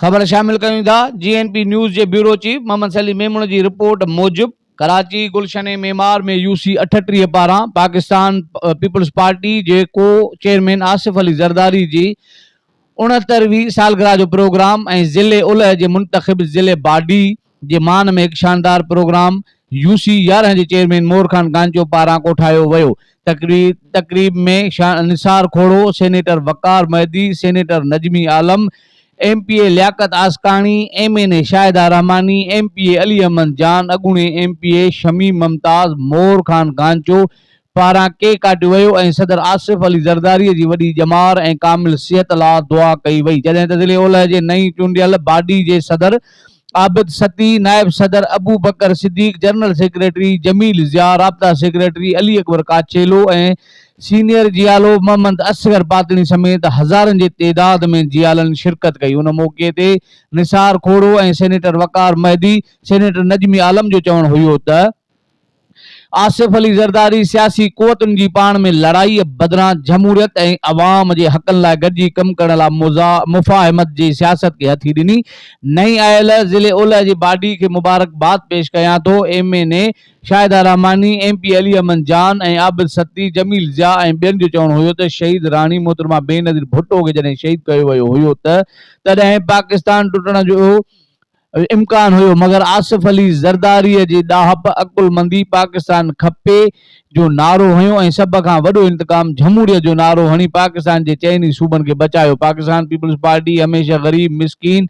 خبر شامل ڪيون ٿا جي اين پي نيوز جي بيورو چيف محمد سليم ميمڻ جي رپورٽ موجب ڪراچي گلشن معمار ۾ يو سي اٺٽيهه پاران پاڪستان پيپلز پارٽي جي ڪو چيئرمين آصف علي زرداري جي اڻهتر وي سالگرهه جو پروگرام ۽ ضلعي الهه جي منتخب ضلعي باڊي جي مان ۾ هڪ شاندار پروگرام يو سي يارهن جي چيئرمين مور خان گانجو پاران ڪوٺايو ويو. تقريب ۾ Shah Nisar Khoro, senator Waqar Mehdi, senator Najmi Alam, M P A Liaquat Askani, M N A Shahida Rehmani, M P A Ali Ahmed Jan, اڳوڻي M P A Shamim Mumtaz, Mor Khan Gancho, پاران ڪيڪ ڪاٽيو ويو ۽ صدر آصف علي زرداري جي وڏي ڄمار ۽ ڪامل صحت لا دعا ڪئي وئي جڏهن ته ضلعي اولهه جي نئين چونڊيل باڊي جي صدر عابد سطي، نائب صدر ابوبڪر صديق، جنرل سيڪريٽري جميل ضياء، رابطا سيڪريٽري علي اڪبر ڪاڇيلو ۽ سينيئر جيالو محمد اصغر پاتڻي سميت هزارن جي تعداد ۾ جيالن شرڪت ڪئي ان موقعي تي نثار کوڙو ۽ سينيٽر وقار مهدي، سينيٽر نجمي عالم جو چوڻ هيو ته. آصف علي زرداري سياسي قوتن جي پاڻ ۾ لڙائي بدران جمهوريت ۽ عوام جي حقن لاء گڏجي ڪم ڪرڻ لاء مفاهمت جي سياست کي هٿي ڏني. نئين آيل ضلعي اولهه جي باڊي کي مبارڪباد پيش ڪيان ٿو، M N A Shahida Rehmani, M P Ali Ahmed Jan ۽ Abid سدي، Jamil Zia ۽ ٻين جو چوڻ هيو ته شهيد راڻي محترمه بينظير ڀٽو کي جڏهن شهيد ڪيو ويو هيو ته تڏهن پاڪستان ٽٽڻ جو امڪان هيو مگر آصف علي زرداري جي ڏاهپ، عقلمندي، پاڪستان کپي جو نعرو هنيو ۽ سڀ کان وڏو انتقام جھموريت جو نعرو هڻي پاڪستان جي چئن ئي صوبن کي بچايو. پاڪستان پيپلز پارٽي هميشه غريب مسڪين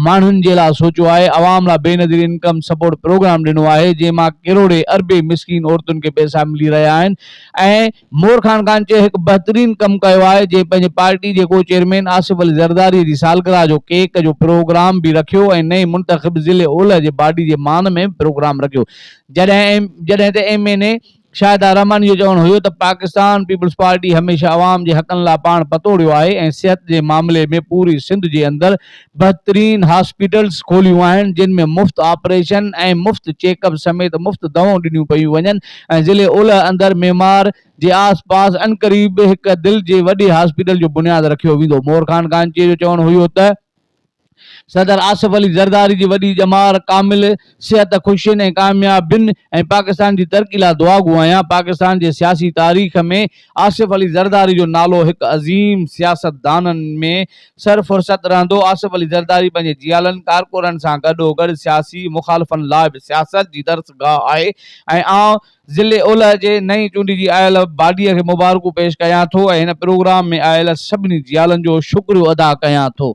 ماڻهن جي لاء سوچيو آهي، عوام لاء بينظير انڪم سپورٽ پروگرام ڏنو آهي جنهن مان ڪروڙين اربين مسڪين عورتن کي پئسا ملي رهيا آهن ۽ مور خان ڪانچيء هڪ بهترين ڪم ڪيو آهي جنهن پنهنجي پارٽي جي ڪو چيئرمين آصف علي زرداريء جي سالگرهه جو ڪيڪ جو پروگرام به رکيو ۽ نئين منتخب ضلعي اولهه جي باڊي جي مان ۾ به پروگرام رکيو جڏهن ته M N A Shahida Rehmani جو چوڻ هيو ته پاڪستان پيپلز پارٽي هميشه عوام جي حقن لاء پاڻ پتوڙيو آهي ۽ صحت جي معاملي ۾ پوري سنڌ جي اندر بهترين هاسپيٽلز کوليون آهن جن ۾ مفت آپريشن ۽ مفت چيڪ اپ سميت مفت دوائون ڏنيون پيون وڃن ۽ ضلعي اولهه اندر معمار جي آس پاس عنقريب به هڪ دل جي وڏي هاسپيٽل جو بنياد رکيو ويندو مور خان گانچيء جو چوڻ هيو ته صدر آصف علي زرداري جي وڏي ڄمار ڪامل صحت، خوشين ۽ ڪاميابين ۽ پاڪستان جي ترقي لاء دعاگو آهيان. پاڪستان جي سياسي تاريخ ۾ آصف علي زرداري جو نالو هڪ عظيم سياستدانن ۾ سر فهرست رهندو. آصف علي زرداري پنهنجي جيالن ڪارڪنن سان گڏوگڏ سياسي مخالفن لاء به سياست جي درسگاهه آهي ۽ آئون ضلعي اولهه جي نئين چونڊجي آيل باڊيء کي مبارڪون پيش ڪيان ٿو ۽ هن پروگرام ۾ آيل سڀني جيالن جو شڪريو ادا ڪيان ٿو.